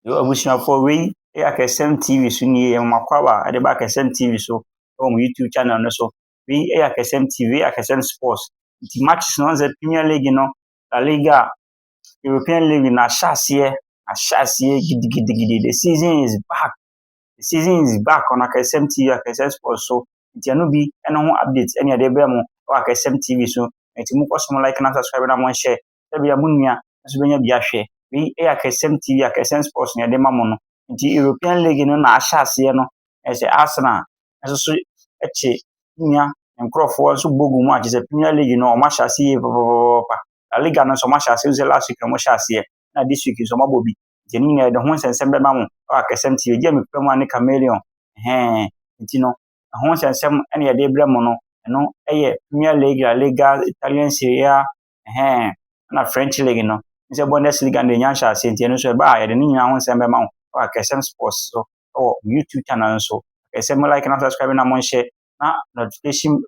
Yo abusuafoɔ wei yɛ Akɛsɛm TV so nie yɛ mama kwawa ɛde ba Akɛsɛm TV so ɛwɔ mo YouTube channel no so wei yɛ Akɛsɛm TV wei yɛ Akɛsɛm Sports nti matches no sɛ Premier League no La Liga European League na ahyɛ aseɛ ahyɛ aseɛ gidigidigidi the season is back the season is back on Akɛsɛm TV Akɛsɛm Sports so nti ɛno bi ɛno ho update ɛne ɛde brɛ mo ɛwɔ Akɛsɛm TV so nti mo kɔ so mo like na subscribe na mo nhyɛ Ebia mo nua nso bɛnya bi ahwɛ. Wei yɛ Akɛsɛm TV, Akɛsɛm Sports na yɛde ma mo no. Nti European League no na ahyɛ aseɛ no, na ɛsɛ Arsenal nso so kye nua nkurɔfoɔ nso bɔ gu mu a, kyerɛ sɛ Premier League no wɔahyɛ aseɛ yie papapapapa. La Liga no nso wɔahyɛ aseɛ, sɛ last week na wɔhyɛ aseɛ, na this week nso wɔabɔ bi. Nti ɛno nyinaa yɛde ho nsɛnsɛm bɛma mo wɔ Akɛsɛm TV. Gye a mepɛ mu a ne Chameleon, ɛhɛn. Nti no, ɛho nsɛnsɛm na yɛde brɛ mo no, ɛno yɛ Premier League, La Liga, Italian Serie A, Ɛhɛn, nna French League no nye Bundesliga no dze nya nhyɛase ntsi eno so eba a yɛdze ne nyina ho nsɛm bɛma wo wɔ Akɛsɛm Sports do wɔ YouTube channel no so. Akɛsɛm mo like na subscribe na monhyɛ na notification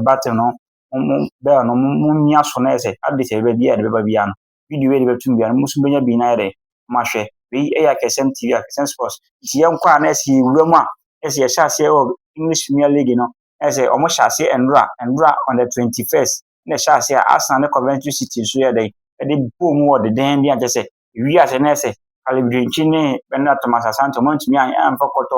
button no mo bell no mo mia so na yɛ sɛ update a yɛbɛba biara no. video wei de bɛtum biara no mo nso mobɛnya bi na ayɛ dɛ mo ahwɛ. Wei yɛ Akɛsɛm TV, Akɛsɛm Sports. Nti yɛnkɔ a na ayɛ sɛ yɛwura mu a ayɛ sɛ yɛhyɛ aseɛ wɔ English Premier League no. Ayɛ sɛ wɔn hyɛ aseɛ ɛnora ɛnora on the twenty first na ɛhyɛ aseɛ a Arsenal ne Coventry City nso yɛ dɛn ɛde bɔɔ mu wɔ dedenden a kyɛ sɛ ɛwie aseɛ na ayɛ sɛ Caleb Dwenkyi ne Bernard Thomas Asante wɔn antumi amfa kɔtɔ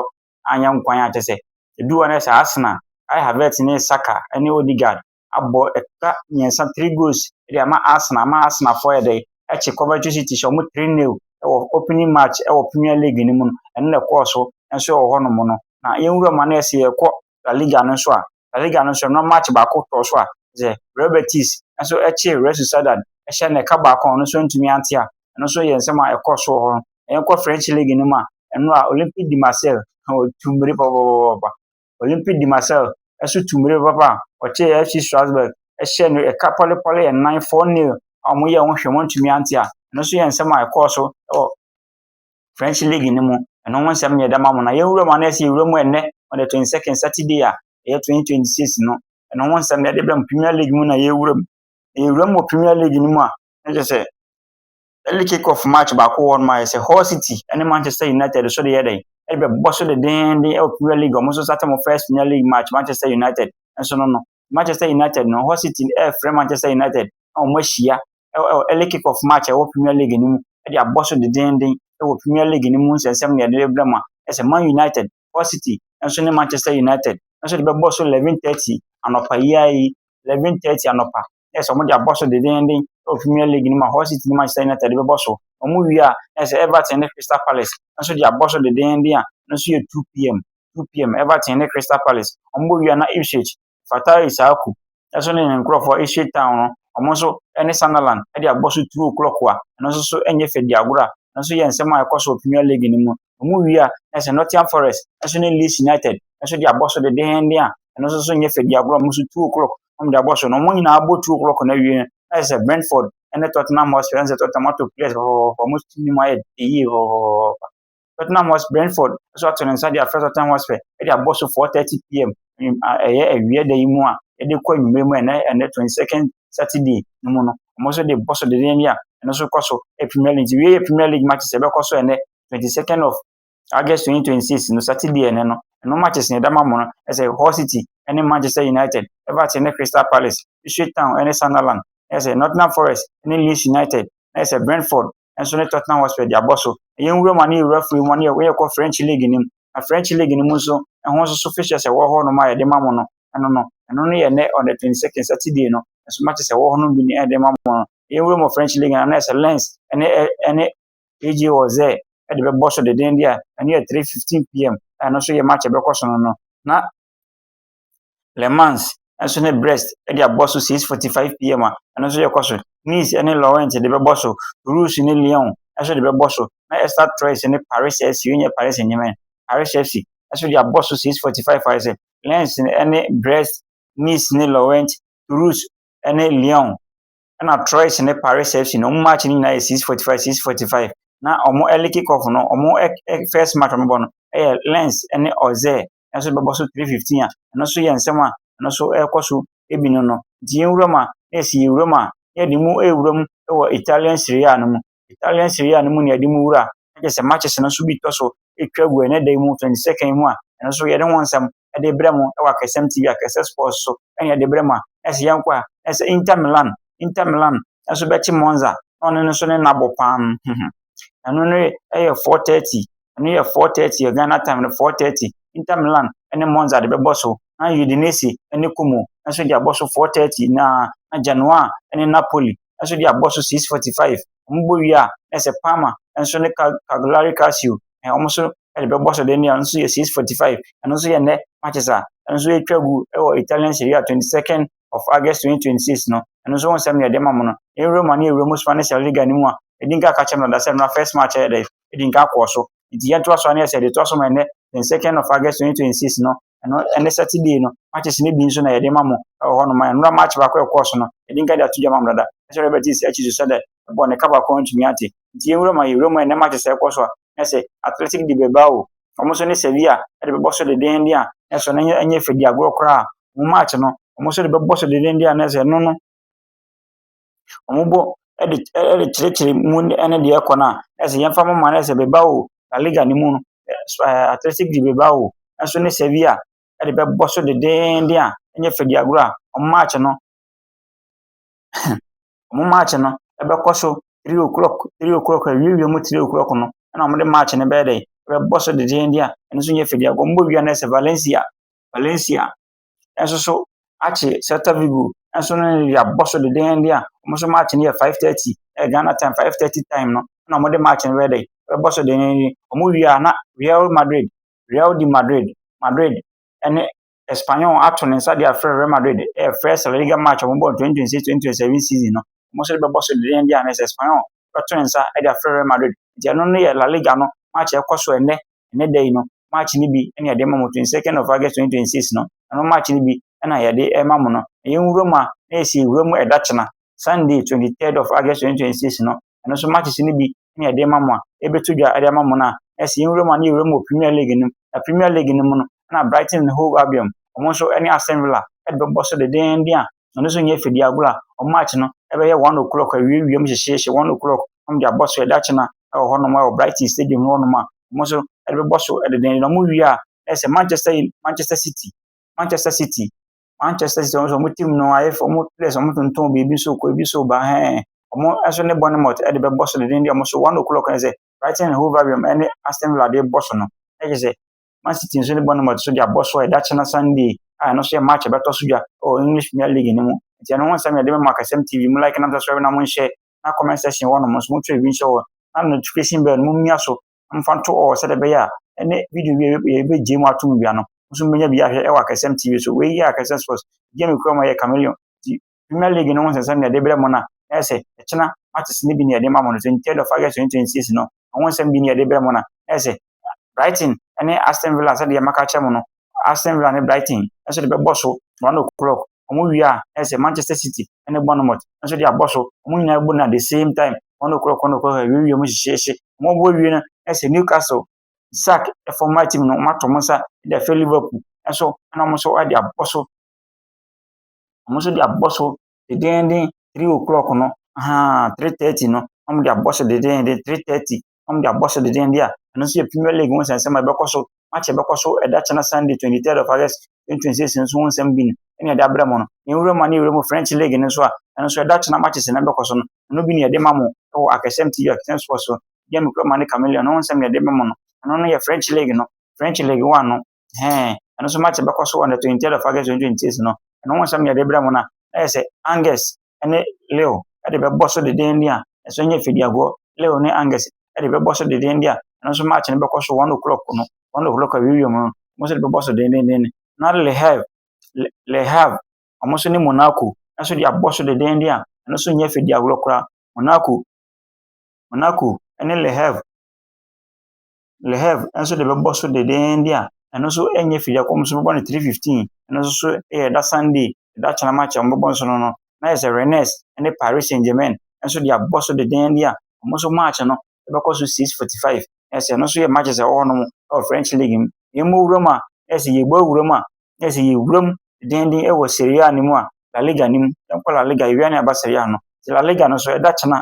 anyɛ nkwan a kyɛ sɛ ɛdu hɔ na ayɛ sɛ Arsenal Kai Havertz ne Saka ne Odegaard abɔ ɛka mmiɛnsa, three goals de ama Arsenal ama Arsenalfoɔ ayɛ dɛ akye Coventry City hyɛ wɔn three nil wɔ opening match wɔ Premier League no mu no, ɛno na ɛkɔɔ so nso wɔ hɔnom no. Na yɛn wura ma no yɛ sɛ yɛkɔ La Liga no nso a, La Liga no nso ɛno match baako tɔɔ so a, sɛ Real Betis nso ɛkye Real Sociedad ɛhyɛ no ɛka baako a ɔno nso ntumi ante a, ɛno nso yɛ nsɛm a ɛkɔɔ so wɔ hɔ. Na yɛnkɔ French League no mu a, ɛno a Olympique de Marseille ɔtu mmiri pɔpɔpɔpɔpɔ. Olympic de Marseille nso tuu mmirika papa a ɔkyeree FC Strasbourg hyɛɛ no ɛka pɔlepɔle nnan, 4-0, a wɔyɛɛ ho hwee a wɔantumi ante a, ɛno nso yɛ nsɛm a ɛkɔɔ so wɔ French league no mu. Ɛno ho nsɛm na yɛde ama mo na yɛnwura mu a na yɛsɛ yɛwura mu ɛnnɛ on the 22nd Saturday a ɛyɛ 2026 no. Ɛno ho nsɛm na yɛde brɛ mo Premier League mu na yɛwura mu. Yɛwura mu wɔ Premier League no mu a, na kyerɛ sɛ early kick off match baako wɔ hɔnom a yɛsɛ Hull City ne Manchester United nso de yɛ dɛn ɛde bɛbɔ so dendeenden wɔ Premier League wɔn nso starting wɔn first Premier League match Manchester United nso no no Manchester United no Hull City ɛrefrɛ Manchester United na wɔn ahyia ɛwɔ early kick off match ɛwɔ Premier League no mu ɛde abɔ so dendeenden ɛwɔ Premier League no mu nsɛnsɛm na yɛde bɛbrɛ mu a ɛsɛ Man United Hull City nso ne Manchester United nso de bɛbɔ so 11:30 anɔpa yi ara yi 11:30 anɔpa na ɛsɛ sɛ wɔde abɔ so dendeenden wɔ Premier League no mu a Hull City ne Manchester United de bɛbɔ so. Wɔwie a, na ɛsɛ sɛ Everton ne Crystal Palace nso de abɔ so dendeenden a ɛno nso yɛ 2pm. 2pm Everton ne Crystal Palace. Wɔbɔ wie a na Ipswich, Fatai Issahaku nso ne ne nkurɔfoɔ Ipswich Town no, wɔn nso ne Sunderland de abɔ so 2 o'clock a ɛno nso so nyɛ fɛ di agorɔ a ɛno nso yɛ nsɛm a ɛkɔ so wɔ Premier League no mu. Wɔwie a na ɛsɛ Nottingham Forest nso ne Leeds United nso de abɔ so dendeenden a ɛno nso so nyɛ fɛ di agorɔ a wɔn nso 2 o'clock wɔde abɔ so no, wɔn nyinaa bɔ two o'clock no awie no, na kyerɛ sɛ Brentford ne Tottenham Hotspur, ɛne sɛ Tottenham ato players fɔfɔfɔfɔ, wɔn team no mu ayɛ yie fɔfɔfɔfɔfɔ. Tottenham Hotspur, Brentford nso ato ne nsa de afrɛ Tottenham Hotspur de abɔ so 4:30 pm, anwum- a, ɛyɛ awia da yi mu a yɛde kɔ anwummerɛ mu a ɛnɛ ɛnɛ 22nd Saturday no mu no, wɔn nso de bɔ so dendenden a ɛno nso kɔ so yɛ Premier League. Nti wei yɛ Premier League matches a ɛbɛkɔ so ɛnɛ 22nd of August 2026 no Saturday ɛnnɛ no, ɛno match sɛ ɛda ma mo no ɛsɛ Hull City ɛne Manchester United, Everton ne Crystal Palace, Ipswich Town ɛne Sunderland, ɛsɛ Nottingham Forest ɛne Leeds United, na ɛsɛ Brentford ɛnso ne Tottenham Hotspur de abɔ so. Ɛyɛ nwura mu a ne yɛwura firi mu a ne yɛkɔ French League no mu, na French League no mu nso ɛho nso so fixtures ɛwɔ hɔ nom a yɛde ma mo no ɛno no, ɛno no yɛ ɛnnɛ on the 22nd Saturday no, ɛso matches ɛwɔ hɔ nom bi ne yɛde ma mo no. Ɛyɛ nwura mu wɔ French League no na ɛsɛ Lens ɛne ɛne PG wɔ dɛ ɛde bɛbɔ so dendenden a, ɛno yɛ three fifteen pm a ɛno nso yɛ match a ɛbɛkɔ so no no. Na Le Mans nso ne Brest de abɔ so six forty five pm a ɛno nso yɛkɔ so. Nice ne Lorient de bɛbɔ so, Toulouse ne Lyon nso de bɛbɔ so, na Stade Troyes ne Paris FC, wei nyɛ Paris Saint-Germain, Paris FC nso de abɔ so six forty five ayɛ sɛ Lens ne Brest, Nice ne Lorient, Toulouse ne Lyon ɛna Troyes ne Paris FC no, wɔn match no nyinaa yɛ six forty five six forty five na wɔn early kick off no wɔn first match wɔn bɔ no ɛyɛ Lens ne Auxerre nso bɛbɔ so three fifteen a ɛno nso yɛ nsɛm a ɛno nso ɛrekɔ so ebi no no nti yɛn wura mu a na yɛsi yɛn wura mu a yɛde mu ɛwura mu ɛwɔ Italian Serie A no mu Italian Serie A no mu na yɛde mu wura na kyerɛ sɛ matches no nso bi tɔ so twa gu ɛnnɛ da yi mu, 22nd yi mu a, ɛno nso yɛde ho nsɛm de rebrɛ mo wɔ Akasɛm TV, Akasɛ Sports so na yɛde brɛ mo a, na sɛ yɛnkɔ a, na sɛ Inter Milan, Inter Milan nso bɛkye Monza na ɔno nso ne nna bɔ paa no, ɛno no yɛ 4:30, ɛno yɛ 4:30 yɛ Ghana time no 4:30, Inter Milan ne Monza de bɛbɔ so, na Udinese ne Como nso de abɔ so 4:30 na na Genoa ne Napoli nso de abɔ so six forty five. Wɔbɔ wie a, na sɛ Palmer nso ne Cal Cagliari Calcio ɛɛ wɔn nso de bɛbɔ so dɛm a, ɛno nso yɛ six forty five. Ɛno nso yɛ nnɛ matches a ɛno nso atwa gu wɔ Italian Serie A twenty second of August twenty twenty six no. Ɛno nso ho nsɛm na yɛde ma mo no. Yɛn Roma ne yɛn wura mu Spanish La Liga no mu a, ɛdi nka ka kyerɛ mmara da sɛ mmara first match yɛ dɛ. di nka kɔɔ so. Nti yɛ ntoa so a ne yɛ sɛ yɛde toa so ma ɛnɛ the second of August 2026 no ɛno ɛne Saturday no matches no bi nso na yɛde ma mo ɛwɔ hɔ no ma ɛnora match baako a ɛkɔɔ so no yɛde nka de ato dwa ma mo dada ɛsɛ Robert East akyi so sɛdɛ ɛbɔ ne ka baako ntumi ate nti yɛn wura ma yɛ wura mu a ɛnɛ matches a ɛkɔ so a ne sɛ Athletic de bɛba o wɔn nso ne Sevilla ɛde bɛbɔ so dedenden a ne so no ɛnyɛ fɛ di agorɔ koraa wɔn match no wɔn nso de bɛbɔ so dedenden a ne sɛ no no Wɔbɔ de ɛ ɛde kyerɛkyerɛ mu ne deɛ ɛrekɔ no a, ayɛ sɛ yɛmfa mma no ayɛ sɛ bɛba o, La Liga no mu no, ɛso ɛɛ Athletic de bɛba o, ɛso ne Sevilla de bɛbɔ so denneenen a, ɛnyɛ Fadiagorɔ a, wɔn match no huh, wɔn match no ɛbɛkɔ so three o'clock, three o'clock, awiawia mu three o'clock no ɛna wɔde match no bɛyɛ dɛ, ɛbɛbɔ so denneenen a, ɛno nso nyɛ Fadiagorɔ. Wɔbɔ wie a na ayɛ sɛ Valencia, Valencia nso so akye Celta Vigo nso ne no de abɔ so dennennen a, wɔn nso match no yɛ 5:30, ɛyɛ Ghana time 5:30 time no na wɔde match no bɛyɛ dɛ, bɛbɔ so dennennen. Wɔn wie a na Real Madrid, Real de Madrid, Madrid ne Espanyol ato ne nsa de afrɛ Real Madrid, ɛyɛ first La Liga match a wɔbɔ no 2026-2027 season no, wɔn nso de bɛbɔ so dennennen a na ɛsɛ Espanyol bɛto ne nsa de afrɛ Real Madrid. Nti ɛno no yɛ La Liga no match a ɛkɔ so ɛnnɛ Ɛnnɛ da yi no, March no bi na yɛde ma mo, 22nd of August 2026 no, ɛno March no bi na yɛde rema mo no. Na yɛn nwura mu a, na yɛsi nwura mu ɛdakyena, Sunday 23rd of August 2026 no, ɛno nso matches no bi na yɛde rema mo a, yɛbɛto dwa de ama mo no a, na yɛsi yɛn nwura mu a na yɛwura mu wɔ Premier League no mu. Na Premier League no mu no, na Brighton and Hove Albion, wɔn nso ne Aston Villa ɛde bɛbɔ so dendeenden a, Ɔno nso nyɛ fidie agorɔ a wɔakyɛ no bɛyɛ one o'clock awiawiam hyehyeehye one o'clock na wɔde abɔ so dakyema wɔ hɔnom wɔ Brighton stadium mu hɔnom a, wɔn nso de bɛbɔ so dennennen. Wɔwie a, na ayɛ sɛ Manchester Uni Manchester City, Manchester City, Manchester City wɔn nso wɔn team no ayɛ fɛ, wɔn players wɔtontɔn biribi so kɔ biribi so ba hɛn. Wɔn nso ne Bournemouth de bɛbɔ so dennennen, wɔn nso one o'clock na ayɛ sɛ Brighton and Hove Albion ne Aston Villa de rebɔ so no. Na kyerɛ sɛ Man City nso ne Bournemouth nso de abɔ so a ɛda kyena Sunday a ɛno nso yɛ match a ɛbɛtɔ so dwa wɔ English Premier League no mu. Nti ɛno ho nsɛm yɛde bɛma Akasɛm TV mu like nam subscribe na monhyɛ na comment section hɔ nom nso motwerɛ bi nhyɛ hɔ na notification bell no mommia so na momfa nto ɔɔ sɛdeɛ ɛbɛyɛ a ɛne video bi a yɛbɛgye mu atom bia no nso mobɛnya bi ahwɛ wɔ Akasɛm TV so. Wei yɛ Akasɛm Sports. Game kura ma yɛ Chameleon. Premier League no ho nsɛnsɛm na ɛde brɛ mo na ɛyɛ sɛ ɛkyena matches no bi na yɛde ma mo no. 23rd of August 2026 no, ɛho nsɛm bi na yɛde brɛ mo na ɛyɛ sɛ Brighton ne Aston Villa sɛdeɛ maka akyerɛ mo no, Aston Villa ne Brighton nso de bɛbɔ so 1 o'clock. Wɔn wie a, ɛyɛ sɛ Manchester City ne Bournemouth nso de abɔ so. Wɔn nyinaa bɔ no at the same time, 1 o'clock, 1 o'clock, awiewie mu hyehyeehye. Wɔn bɔ wie no, ɛyɛ sɛ Newcastle, Isak former team no, wɔato wɔn nsa de afɛ Liverpool nso, ɛna wɔn nso de abɔ so. Wɔn nso de abɔ so denneenen three o'clock no, ahaa, three thirty no, wɔde abɔ so denneenen, three thirty, wɔde abɔ so denneenen a, ɛno nso yɛ Premier League ho nsɛnsɛm a ɛbɛkɔ so. Match a ɛbɛkɔ so ɛda kyena Sunday, 23rd of August, 2026 nso ho nsɛm bi no ɛne ɛde abrɛ mo no. Na nwura mu a ne nwura mu French League no nso a, ɛno nso ɛda kyena matches na ɛbɛkɔ so no, ɛno bi ne yɛde ma mo wɔ Akɛsɛm TV, Akɛsɛm Sports so. Deɛ me kura ma ne Chameleon, ne ho nsɛm na yɛde ma mo no. Ɛno no yɛ French League no, French League One no. Ɛhɛn, ɛno so match bɛkɔ so on the twentieth of August twenty twenty six no, ɛno ho nsɛm na yɛde brɛ mo no a, na yɛ sɛ Angus ne Leo de bɛbɔ so dedeenden a, ɛso nyɛ Fediagoɔ, Leo ne Angus de bɛbɔ so dedeenden a, ɛno nso match no bɛkɔ so one o'clock no, one o'clock awiewiem no, wɔn nso de bɛbɔ so dedeenden, na Le Havre, Le, Le Havre, wɔn nso ne Monaco nso de abɔ so dedeenden a, ɛno nso nyɛ Fediagoɔ koraa, Monaco, Monaco ne Le Havre, Leheb nso de bɛbɔ so dendeenden a, ɛno nso ɛnyɛ firi akɔm so bɛbɔ no three fifteen ɛno nso so yɛ ɛda Sunday ɛda kyena match a wɔbɛbɔ nso no no na yɛ sɛ Rennes ne Paris Saint Germain nso de abɔ so dendeenden a wɔn nso match no ɛbɛkɔ so six forty five yɛ sɛ ɛno nso yɛ matches a ɛwɔ hɔnom ɛwɔ French league mu yɛn mu wura mu a yɛ sɛ yɛbɔ wura mu a yɛ sɛ yɛwura mu dendeenden ɛwɔ Serie A no mu a La Liga no mu yɛn kɔ La Liga yɛwia ne aba Serie A no La Liga no nso ɛda kyena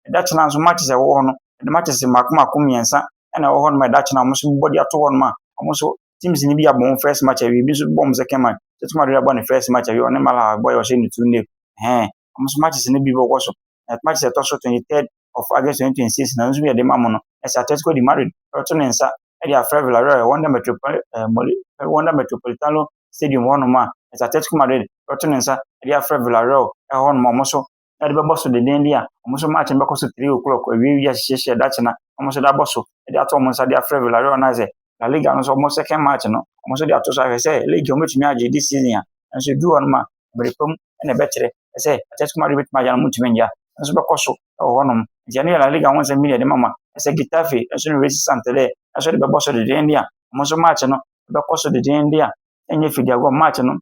Ɛda kyɛn a nso matches a ɛwɔ hɔ no, ɛde matches mmaako mmaako mmiɛnsa na ɛwɔ hɔ nom a ɛda kyɛn a wɔn nso bɔ de ato hɔ nom a wɔn nso teams no bi abɔ wɔn first match awie, ebi nso bɔ wɔn second match. Atletico Madrid abɔ ne first match awie, ɔne Malaga abɔ a wɔhyɛ no two nil. Ɛhɛn, wɔn nso matches no bi bɛkɔ so. Na matches a ɛtɔ so twenty third of August twenty twenty six na nso bi a ɛde ma mo no, ɛsɛ Atletico de Madrid ɛbɛto ne nsa ɛde afrɛ Villarreal ɛwɔ Wanda Metropol ɛɛ Moli ɛwɔ Wanda Metropolitano Stadium hɔ nom a ɛsɛ Atletico Madrid ɛbɛto ne nsa ɛde afrɛ Villarreal ɛhɔ nom a wɔn nso de bɛbɔ so dendenden a, wɔn nso match no bɛkɔ so three o'clock awie wia hyehyehyɛ dakyena wɔn nso de abɔ so de ato wɔn nsa de afrɛ Villarreal no ayɛ sɛ La Liga no nso wɔn second match no wɔn nso de ato so ahwɛ sɛ league wɔn bɛtumi agye this season a nso edu hɔ nom a mmere pam na ɛbɛkyerɛ sɛ Atletico Madrid bɛtumi agya no wɔn ntumi ngya nso bɛkɔ so wɔ hɔ nom nti ɛno yɛ La Liga ho nsɛm bi na ɛde mama ɛsɛ Getafe nso ne Racing Santander nso de bɛbɔ so dendenden a wɔn nso match no bɛkɔ so dendenden a ɛnyɛ fidi agorɔ match no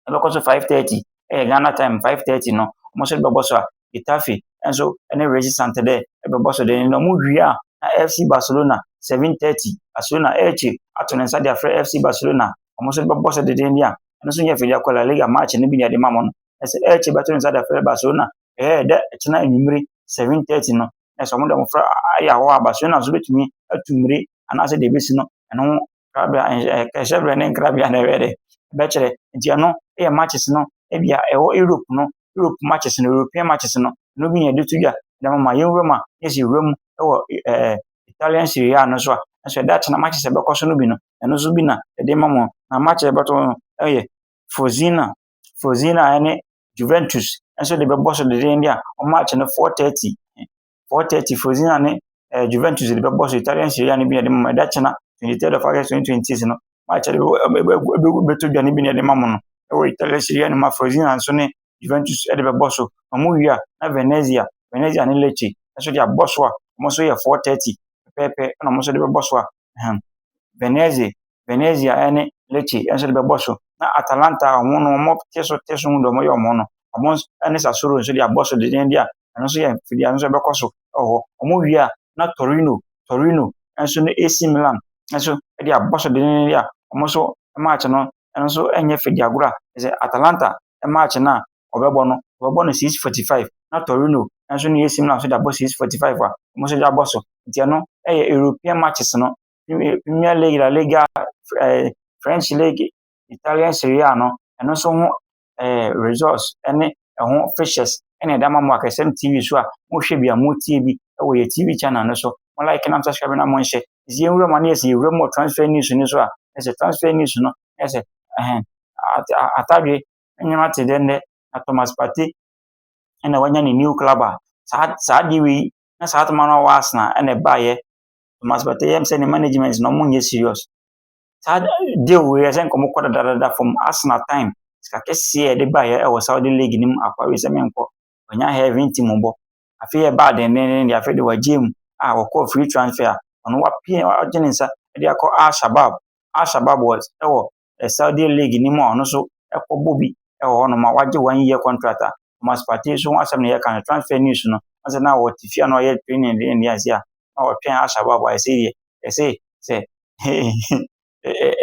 ɛbɛkɔ so five thirty ɛyɛ ghana time five thirty no wɔn nso bɛbɔ so a getafe nso ɛne resi santander ɛbɛbɔ so de na wɔn wie a na fc barcelona seven thirty barcelona ɛrekyi ato ne nsa de afrɛ fc barcelona wɔn nso bɛbɔ so deden bi a ɛno nso nyɛ fɛ de akɔ la liga match no bi na ɛde ma wɔn ɛsɛ ɛrekyi bɛto ne nsa de afrɛ barcelona ɛyɛ dɛ ɛkyena enyimire seven thirty no ɛsɛ wɔn de wɔn fɛ ayɛ ahɔ a barcelona nso betumi atu mmiri anaasɛ deɛ ebesi no ɛno nkrabea nhyɛ hyɛbrɛ ne nkrabea na ɛbɛyɛ dɛ ɛbɛkyerɛ. Nti ɛno yɛ matches no ebia ɛwɔ Europe no, Europe matches no, European matches no, ɛno bi na yɛde to dwa. Dɛm ma yɛnwura mu a, na yɛsi wura mu wɔ ɛɛ Italian Serie A no so a, nso ɛda akye na matches a ɛbɛkɔ so no bi no, ɛno nso bi na yɛde ma mo. Na match a ɛbɛto no yɛ Frosinone, Frosinone a ɛne Juventus nso de bɛbɔ so dendenden a, wɔn match no 4:30. four thirty Fiorentina ne ɛɛ Juventus de bɛbɔ so. Italian Serie A no bi na yɛde bɛma mo. Ɛda kyena, twenty third of August twenty twenty six no, match a ɛde bɛto dwa no bi na yɛde bɛma mo no wɔ Italian Serie A no mu a Fiorentina nso ne Juventus de bɛbɔ so. Wɔwie a, na Venezia, Venezia ne Lecce nso de abɔ so a wɔn nso yɛ four thirty pɛpɛɛpɛ ɛna wɔn nso de bɛbɔ so a, ɛhɛn, Venezia Venezia ne Lecce nso de bɛbɔ so, na Atalanta a wɔn no wɔte so te so hu deɛ wɔyɛ wɔn ho no, wɔn nso ne Sassuolo nso de abɔ so dendenden a, ɛno nso yɛ mfidie a ɛno nso ɛbɛkɔ so wɔ hɔ. Wɔwie a, na Torino, Torino nso ne AC Milan nso de abɔ so dendenden a, wɔn nso match no ɛno nso nyɛ fɛ di agorɔ a, ɛsɛ Atalanta match no a wɔbɛbɔ no, wɔbɛbɔ no 6:45 na Torino nso ne AC Milan nso de abɔ 6:45 a wɔn nso de abɔ so. Nti ɛno yɛ European matches no Premier Premier League, La Liga, eh, French League, Italian Serie A no, ɛno nso ho eh, results ne ɛho fixtures ɛna ɛda ma mo akɛsɛm TV so a mohwɛ bi a motie bi ɛwɔ yɛ TV channel no so. Mo like na mo subscribe na mo nhyɛ. Ɛsɛ yɛn wura mu ano yɛsɛ yɛwura mu wɔ transfer news no so a ɛsɛ transfer news no ɛsɛ ɛhɛn atadwe nneɛma te dɛ nnɛ na Thomas Partey ɛna wanya ne new club a saa saa de wei na saa atoma no a ɔwɔ Arsenal ɛna ɛbaeɛ Thomas Partey yam sɛ ne management no wɔnyɛ serious. Saa deal wei yɛ sɛ nka wɔkɔ dadadada fam. Arsenal time sika kɛseɛ a yɛde baeɛ ɛwɔ Saudi league no mu akɔ wei sɛ menkɔ. Wɔnya Heaven team bɔ. Afei ɛbaa dendenden deɛ afei de wɔagye mu a wɔkɔɔ free transfer a ɔno wapie wagye ne nsa de akɔ Al Shabab. Al Shabab was ɛwɔ Saudi league no mu a ɔno nso kɔbɔ bi wɔ hɔnom a wagye one year contract a Thomas Partey nso ho asɛm na yɛka no transfer news no ansa na ɔte fie a na ɔyɛ training de ne ase a na ɔtwɛn Al-Shabab a ɛsɛ yɛ ɛsɛ sɛ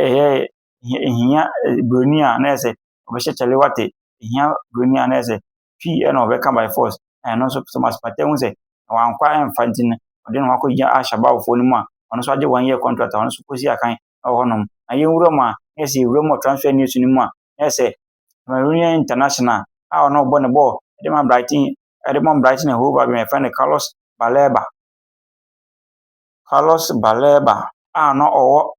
ɛyɛ ehia buroni a na ɛsɛ ɔbɛhyɛ Kyalewate ehia buroni a na ɛsɛ pii na wɔbɛka by force. Na ɛno nso Thomas Partey hu sɛ wankɔ amfa nti no, ɔde ne ho akɔgyina Al-Shabaabfoɔ no mu a ɔno nso agye one year contract a ɔno nso kɔsi akan wɔ hɔnom. Na yɛnwura mu a, na yɛ sɛ yɛwura mu wɔ transfer news no mu a, na yɛ sɛ Cameroonian international a ɔno ɔbɔ ne bɔɔl de ma Brighton de ma Brighton and Hove Albion yɛfrɛ no Carlos Baleba. Carlos Baleba a na ɔwɔ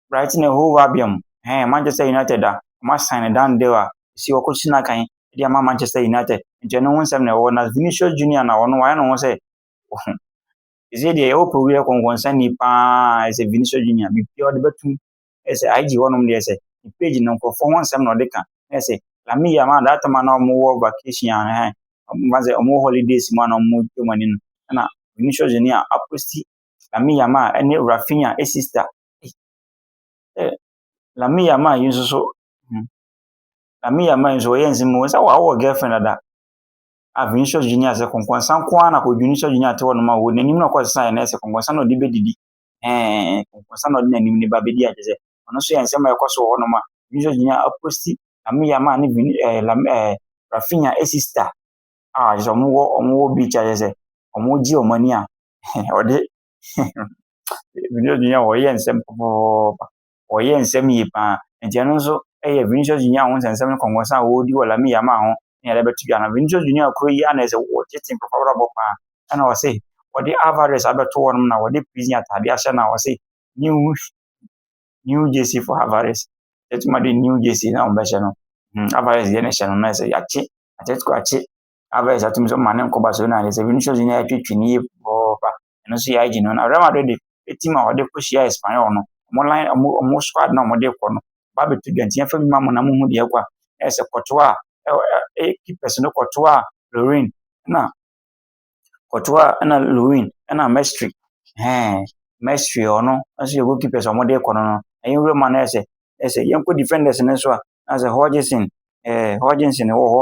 Brighton and Hove Albion, ɛhɛn, Manchester United a wɔasign Dan Dale a ɔsi hɔ kɔsi no akan de ama Manchester United. Nti ɛno ho nsɛm na ɛwɔ hɔ na Vinicius Junior na ɔno wayɛ ne ho sɛ ɔho. Ɛsɛ deɛ ɛwɔ pɛ wiɛ kɔnkɔnsani paa ɛsɛ Vinicius Junior biribiara ɔde bɛtum ɛsɛ IG hɔnom deɛ ɛsɛ ne page no nkurɔfoɔ ho nsɛm na ɔde ka na ɛsɛ Lamine Yamal that time na wɔn wɔ vacation a ɛhɛn wɔn ba sɛ wɔn wɔ holidays mu a na wɔn twɛ wɔn ani no ɛna Vinicius Junior aposti Lamine Yamal ɛne Rafinha ɛsista Na me yam a yi nso so hmm na me yam a yi nso wɔyɛ nsɛm mu wɔn sɛ wɔawo wɔ girlfriend dada a Vinicius Junior sɛ kɔnkɔnsa nko ara na kɔ Vinicius Junior ate hɔ nom a wɔ n'anim na ɔkɔ sesa yɛ na ɛsɛ kɔnkɔnsa na ɔde bɛdidi ɛɛ kɔnkɔnsa na ɔde n'anim ne ba bɛdi agye sɛ ɔno nso yɛ nsɛm a ɛkɔ so wɔ hɔ nom a Vinicius Junior aposti na me yam a ne Vin ɛɛ lam ɛɛ Rafinha esista a sɛ wɔn wɔ wɔn wɔ beach a yɛ sɛ wɔn gye wɔn ani a ɔde Vinicius Junior ɔyɛ nsɛm pɔpɔpɔpɔpɔpɔ. Ɔyɛ nsɛm yie pa ara. Nti ɛno nso yɛ Vinicius Junior ho nsɛnsɛm ne nkɔnkɔnsa a ɔredi wɔ Lamine Yamal ho ne ade bɛto dwa no. Vinicius Junior kuro yi ara na ɛsɛ wɔgye tim papabrabɔ pa ara. Ɛna ɔse wɔde Alvarez abɛto hɔ nom na wɔde prison ataadeɛ ahyɛ no a ɔse new new jersey for Alvarez. Ɛtuma de new jersey na wɔbɛhyɛ no. Hmm, Alvarez deɛ na ɛhyɛ no na ɛsɛ yɛakye Atletico akye Alvarez atumi nso ma ne nko Barcelona de sɛ Vinicius Junior atwitwi ne yie pɔpɔpɔpa ɛno nso yɛagye no na Real Madrid de ɛtim a wɔde kɔhyia Espanyol no wɔn line wɔn wɔn squad na wɔde kɔ no ba bɛto dwa nti yɛmfa bi ma mo na mohu deɛ ɛkɔ a ɛyɛ sɛ kɔtoɔ a ɛyɛ keepers no kɔtoɔ a Lorin na kɔtoɔ a ɛna Lorin ɛna Mestre ɛɛ Mestre ɔno nso yɛ goalkeepers a wɔde kɔ no no ɛyɛ nwura ma no ɛyɛ sɛ ɛyɛ sɛ yɛnkɔ defenders no nso a na sɛ Hodgson ɛɛ Hodgson wɔ hɔ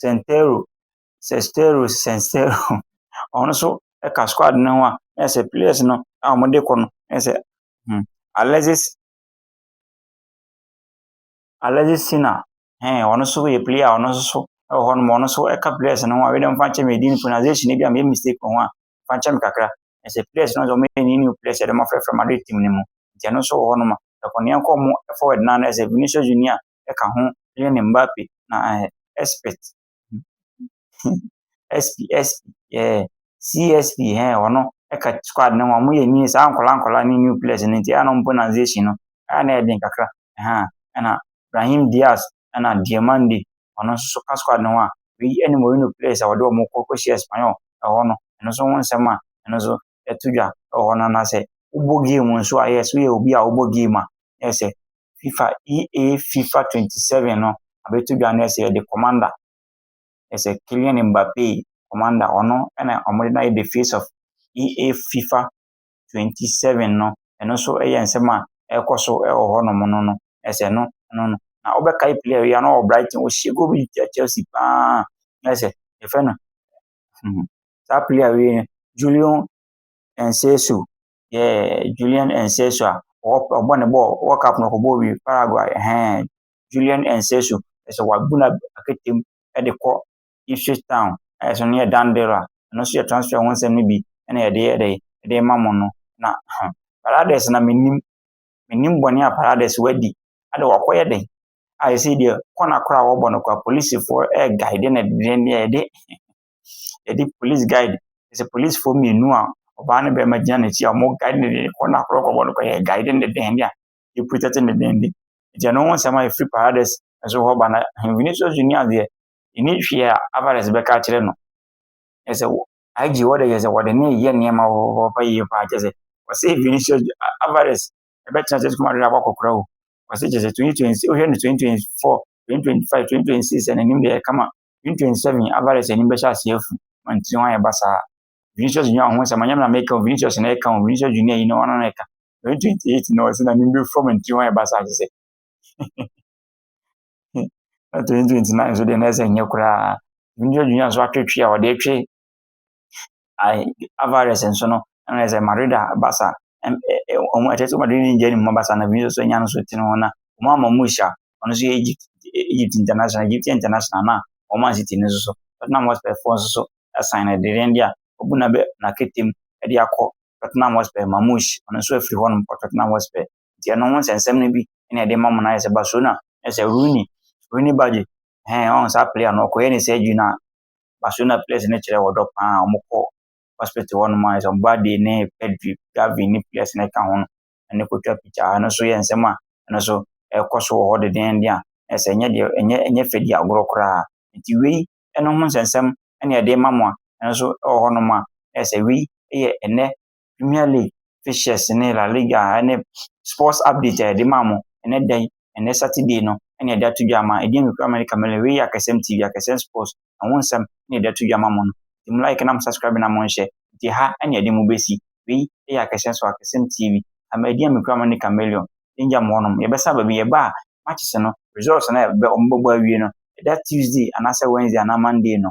Sɛntɛro, Sɛstɛro, Sɛnstɛro, ɔno nso ka squad no ho a, na kyerɛ sɛ players no a wɔde rekɔ no, na kyerɛ sɛ hmm, Alexis Alexis Sina, ɛn, ɔno nso yɛ player a ɔno nso so wɔ hɔ nom, ɔno nso ka players no ho a, wei deɛ mfa nkyɛ me din pronunciation no bi a meyɛ mistake wɔ ho a, mfa nkyɛ me kakra. Na sɛ players no nso wɔyɛ ne new players a wɔde wɔafrɛfrɛ Madrid team no mu, nti ɛno nso wɔ hɔ nom a, ɛkɔ nea ɛkɔ mu forward no a, na kyerɛ sɛ Vinicius Junior, ka ho Kylian Mbappe na ɛyɛ expert. SP SP yeah CSP ɛɛ ɔno ɛka squad no ho wɔyɛ new saa nkwadaa nkwadaa ne new players no nti ɛyɛ a na wɔn pronunciation no ɛyɛ a na ɛyɛ den kakra ɛhaa ɛna Brahim Diaz ɛna Diomande ɔno nso so ka squad no ho a wei ɛne Mourinho players a wɔde wɔn kɔ kɔhyia Espanyol ɛhɔ no ɛno nso ho nsɛm a ɛno nso to dwa wɔ hɔ no anaasɛ wobɔ game nso a, yes, woyɛ obi a wobɔ game a, na ɛsɛ FIFA EA FIFA 27 no abɛto dwa no ɛsɛ yɛde commander ɛsɛ Kylian Mbappe commander ɔno ɛna wɔde no ayɛ the face of EA FIFA 27 no ɛno nso ɛyɛ nsɛm a ɛrekɔ so ɛwɔ hɔnom no no ɛsɛ no no no na wobɛkae player yi ano wɔ Brighton ɔhyɛ goal bi Chelsea paa ɛsɛ yɛfɛ no Saa player wei no, Julian Nsesu, yeah, Julian Nsesu a ɔbɔ ne bɔɔl, World Cup no ɔkɔbɔɔ bi Paraguay, ɛhɛn, Julian Nsesu, ɛsɛ wabu no akatam de kɔ Ipswich Town, ayɛ sɛ ɔno yɛ Dan Biller, ɛno nso yɛ transfer ho nsɛm no bi na yɛde yɛ dɛ, yɛde rema mo no. Na huh, Paredes na menim, menim bɔne a Paredes wadi, ade wakɔyɛ dɛn? a yɛsɛ deɛ kɔna koraa a wɔbɔ no koraa polisifoɔ ɛguide no ɛdeɛ deɛ yɛde yɛde police guide ɛsɛ polisifoɔ mmienu a ɔbaa ne bɛrima gyina n'akyi a wɔn guide no deɛ kɔna koraa kɔbɔ no koraa yɛ guide no deɛ deɛ a yɛ protect no deɛ deɛ nti ɛno ho nsɛm a yɛfiri paradise ɛso hɔ ba na hɛnfini so so ni adeɛ ɛni hwee a abares bɛka akyerɛ no ɛsɛ wɔ IG wɔde yɛ sɛ wɔde ne yɛ nneɛma wɔpɛ yie paa kyɛ sɛ wɔsɛ hɛnfini so avares ɛbɛtena ase kɔma awerɛ akɔkora o. Ɔse kyerɛ sɛ twenty twenty six wohwɛ no twenty twenty four, twenty twenty five, twenty twenty six n'anim deɛ ɛkama twenty twenty seven Alvarez anim bɛhyɛ ase afu ma ne tiri ho ayɛ basaa. Vinicius Junior ho sɛ manyɛ me na meka o Vinicius na ɛka o Vinicius Junior yi na ɔno na ɛka twenty twenty eight na ɔse n'anim bɛfu ma ne tiri ho ayɛ basaa kyerɛ sɛ na twenty twenty nine nso deɛ na ɛsɛ nyɛ koraa Vinicius Junior nso atwetwe a ɔde atwe I Alvarez nso no, na yɛ sɛ Madrid a Barca wɔn ɛkyɛ sɛ Madrid ne gya ne mu Barca na Vinicius nso anya no so tene ho na wɔn ama wɔn hyia ɔno nso yɛ Egypt Egypt international Egypt international na wɔn Man City no nso so Tottenham Hotspur foɔ nso so asan no dedeɛn deɛ a wɔbu na bɛ na ketem de akɔ Tottenham Hotspur Mamouche ɔno nso afiri hɔ nom kɔ Tottenham Hotspur nti ɛno ho nsɛnsɛm no bi ɛna ɛde ma mo na ayɛ sɛ Barcelona ɛsɛ Rooney Rooney Badge ɛhɛn ɔn saa player no ɔkɔyɛ ne surgery no a Barcelona players no kyerɛ ɔdɔ paa a wɔkɔ hospital hɔnom a sɛ ɔba de ne Pedri, Gavi ne players no ka ho no ne kɔtwa picture a ɛno nso yɛ nsɛm a ɛno nso ɛkɔ so wɔ hɔ dedeenden a ɛsɛ ɛnyɛ deɛ ɛnyɛ ɛnyɛ fɛ di agorɔ koraa nti wei ɛno ho nsɛnsɛm ɛna ɛde ma mo a ɛno nso ɛwɔ hɔnom a ɛsɛ wei yɛ ɛnɛ Premier League fixtures ne La Liga ne sports update a yɛde ma mo ɛnɛ da yi, ɛnɛ Saturday no ɛna yɛde ato dwa ama. Ɛdeɛ mi kura America Mele, wei yɛ Akasɛm TV, Akasɛm Sports, ɛho nsɛm ɛna yɛde ato dwa ama mo no. Nti mo like na mo subscribe na mo nhyɛ, nti ha ɛna yɛde mo bɛsi. Wei yɛ Akasɛm Sports, Akasɛm TV, ama ɛdeɛ mi kura America Mele, danger mo hɔnom. Yɛbɛsa baabi, yɛba a matches no, results no a wɔbɛbɔ awie no, ɛda Tuesday anaasɛ Wednesday anaa Monday no,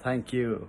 Thank you.